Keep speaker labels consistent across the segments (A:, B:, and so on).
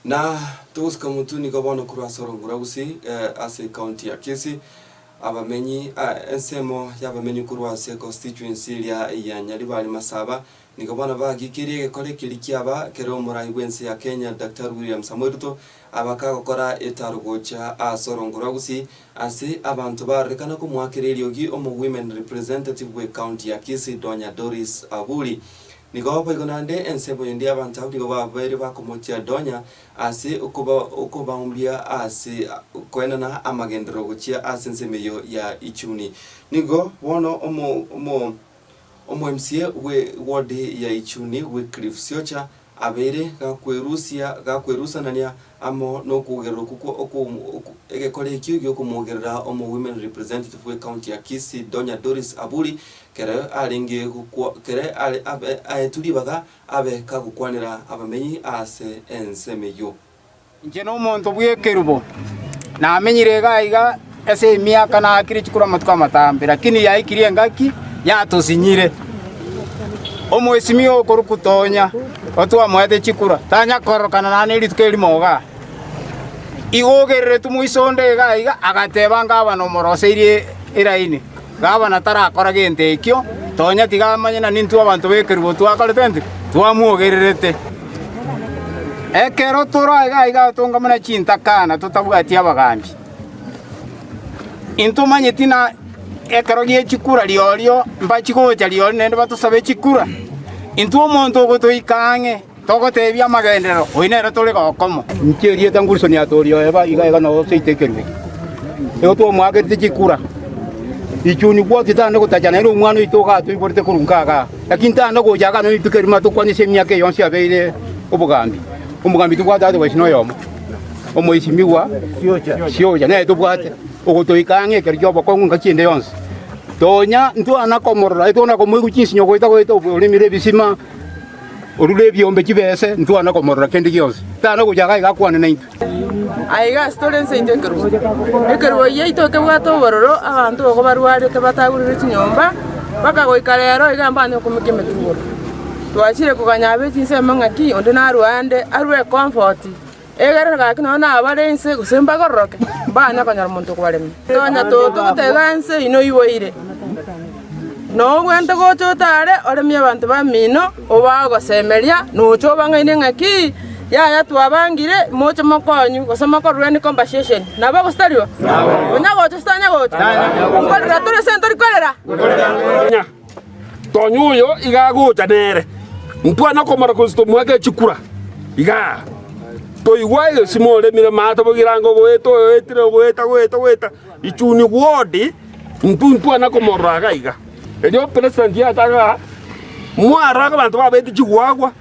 A: Na togosika motwe nigo bono korwa ase orongoro rwa Gusii ase ecounty ya Kisii, abamenyi, ensemo y'abamenyi korwa ase constituency eria ya Nyaribari Masaba nigo bono bagikirie egekore ekeria kiaba kere omorai bw'ense ya Kenya Daktari William Samoei Ruto Abakagokora etaro gocha aase orongo rwa Gusii ase abanto barorekana komoakera eriogi omo women representative bwe county ya Kisii Donya Doris Aburi. Nigo boigo naende ensemo endi abanto abwo nigo babaire bakomochia Donya ase okoba okobaombia aase koenana amagenderero gochia aase ensemo eyo ya Ichuni. Nigo bono omo omo Omwemsie bwe wodi ya Ichuni Wycliffe Siocha abeire gakwerusia gakwerusanania amo nokogeroroku kwo egekora ekio giokomogerera omo Women Representative bwe county ya Kisii Donya Doris Aburi kere arenge gokwa kere aetwe ribaga abe kagokwanera abamenyi aase ensemo eyio. Inche
B: nomonto bw'ekerubo, namenyire iga aiga ase emiaka naakire chikuru amatuko amatambe, lakini yaikirie engaki, yatosinyire. Omwesimia okorokwa Tonya, otwamoete chikura, tanya kororokana nane rituko erimo iga. Iga ogereretwe moiso onde iga aiga, agateba ngabane omoroseirie eraini. Gavana tarakora gento ekio, tonya tiga amanye na nintwe abanto b'ekerubo twakorete inki? Twamwogererete. Ekero tore aiga aiga atonga buna chintaka na totabwati abagaambi, intomanyeti ng'a ekero gie chikura riorio mbachi gocha rirorio naende batosabe chikura. Intwe omonto ogotoika ang'e, Togoteebia amagenderero, oyi nere tore gokomo. Inche erieta nguriso niatorio eba iga iga noyo seito ekerubi, nigo twamoagerete chikura. Richuni bwoti tande gotacha naende omwana oito iga atoiborete korwa inka igaa, lakini tande gocha igaa nonya rituko erimo atokwane ase emiaka eye yonsi abeire obogambi. Omogambi tobwate aye gose noyomo, omoisimigwa siocha nere tobwate, ogotoika ang'e ekero ki'obokong'u engaki ende yonsi. Tonya ntwana komorora, aye twana komoigwa chinsinyo goeta goeta oboremire ebisima. Orure ebiombe chibese, ntwana komorora kende gionsi. Tana gocha iga iga akwane naintwe. Aiga ase
C: tore ense yaito ekerogo. Ekerogo yaito kebwate obororo, abanto bogo barwarete batagurire chinyomba, mpaka goika rero iga mbana okomeka emetugoro. Twachire koganya abe chinsemo ng'aki onde narue ande, arue comfort, Ekero gaki nonya nabare inse gose mbakororoke, mbanya konyora omonto okwaremia. Nonya toto gotega inse ino iboire, na obwente gocha otare oremie abanto bamino, obaa ogosemeria, na oche obang'aini ng'a ki, yaya twabangire, moche mokonywe, gose mokorureni compensation. Nabo gose taribo? Onyagocha gose tanyagocha? Nkorera tore ase entori korera?
D: Konya oyo iga agocha nere, ntwa nokomora gose tomoake chikura. Iga toigwa egesimo oremire maate boigo erange ogoeta oetire ogoeta ogoeta ogoeta ichuni gwodi intu ntwa nakomorora iga iga. Erio president yataga mwara abanto babete chigwagwa.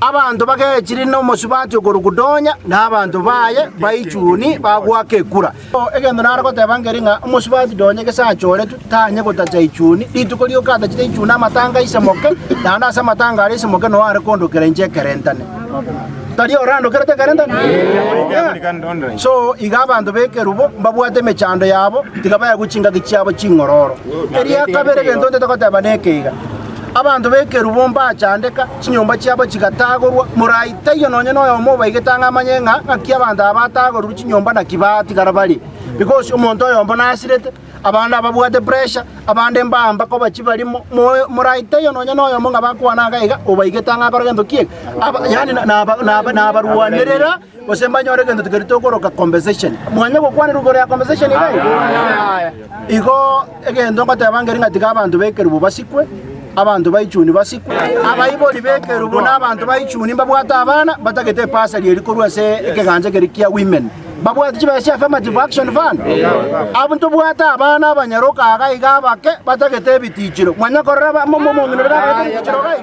B: Abanto bagechire nomosubati okorokwa Donya, na abanto baye baichuni bagoaka ekura. Egento nare goteba nkere ng'a omosubati Donya gese achoretwe, tanye gotacha ichuni, rituko rioka atachire ichuni amatanga aise moke, naende ase amatanga aria aise moke noyo are kondokera inche ekerentane. Tari ore andokerete ekerentane? Ee. So iga abanto b'ekerubo mbabwate emechando yabo, tiga baegwe chingaki chiabo ching'ororo. Eria kabere egento ntete goteba neke iga, Abanto b'ekerubo mbachandeka, Chinyomba chiabo chigataagorwa, morai taiyo nonya noyomo obaigete ang'e amanye ng'a ng'aki abanto aba bataagorire chinyomba naki baatigara bare. Because omonto oyomo nasirete, abande ababwate pressure, abande mbamba koba chibarimo, morai taiyo nonya noyomo ng'a bakwana iga obaigete ang'e akore gento ki'ege, yaani nabarwanerera. gose mbanyore egento keria tokoroka compensation. Mwanya gokwanerwa igoro ya compensation iga iga? Yaya. Igo egento ngoteba nkeri ng'a tiga abanto b'ekerubo basikwe, abanto baichuni basikwe, abaibori b'ekerubo na abanto baichuni mbabwate abana mbatagete ebasari eria korwa ase ekegancha keria kia women. Mbabwati chibesa chia affirmative action fund. Abwo ntobwate abana abanyaroka iga iga abake batagete ebitichiro. Mwanya korora ba- mo- mo- omong'ina oria nabagete ebitichiro iga iga?